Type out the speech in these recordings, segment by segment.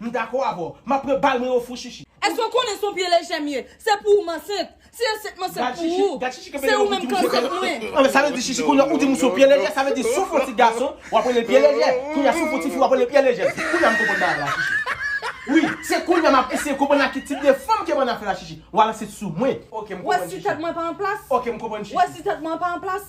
M dakò avè w. Map pran bal mwen ofou shishi. Eske w konnen son pye lejè m ye? Se pou ou m ansent. Si ansent m ansent pou ou. Se ou menm k ansent mwen. Anben sa vle di shishi kounye a ou di m ou son pye lejè sa vle di souf yon ti gason wap rele l pye lejè kounye a souf yon ti fi wap rele l pye lejè kounye a m konprann bagay la shishi wi se kounye a map eseye konprann a ki tip de fanm ke bann ap fè la shishi wal ansent sou mwen ok m konprann shishi. Wè si tèt mwen pa an plas. Ok m konprann shishi. Wè si tèt mwen pa an plas.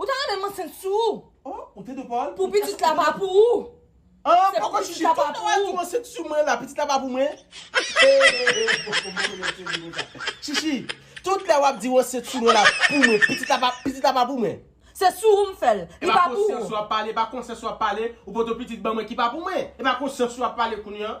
Ou ta renmen m ansent sou ou. Oh, ou te dwe pa l. Pou pitit la pa pou ou. Ah, Se pou poko pitit chichi. la pa Tout pou wè ou. tou ansent sou mwen la, pitit la pa pou mwen. Chichi, tout lè wap di ou ansent sou mwen la pou mwen, pitit la pa, pitit la pa pou mwen. Se sou ou m fè l. Li Epa pa pou konsyans ou. ou ap pale, epa konsyans ou ap pale, ou poto pitit ban mwen ki pa pou mwen. Epa konsyans ou ap pale kounye an.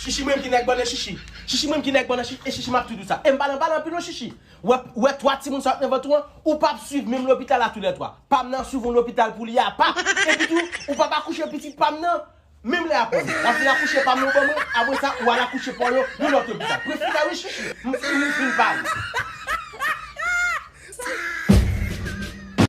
Shishi mrenmn ki nèg bannann shishi Shishi mrenmn ki nèg bannann shishi e shishi map tou diw sa em pale anpale anpil wi shishi wè 3 timoun sa yo t nan vant ou an ou pap swiv menm lopital a tou lè 3 pam nan ap swiv yon lopital pou li apa epitou ou pap akouche pitit pam nan menm lè a konn wap vin akouche pam nan ou ban mwen apre sa ou al akouche paw yo yon lòt lopital prefri la wi shishi m fin m fin pale.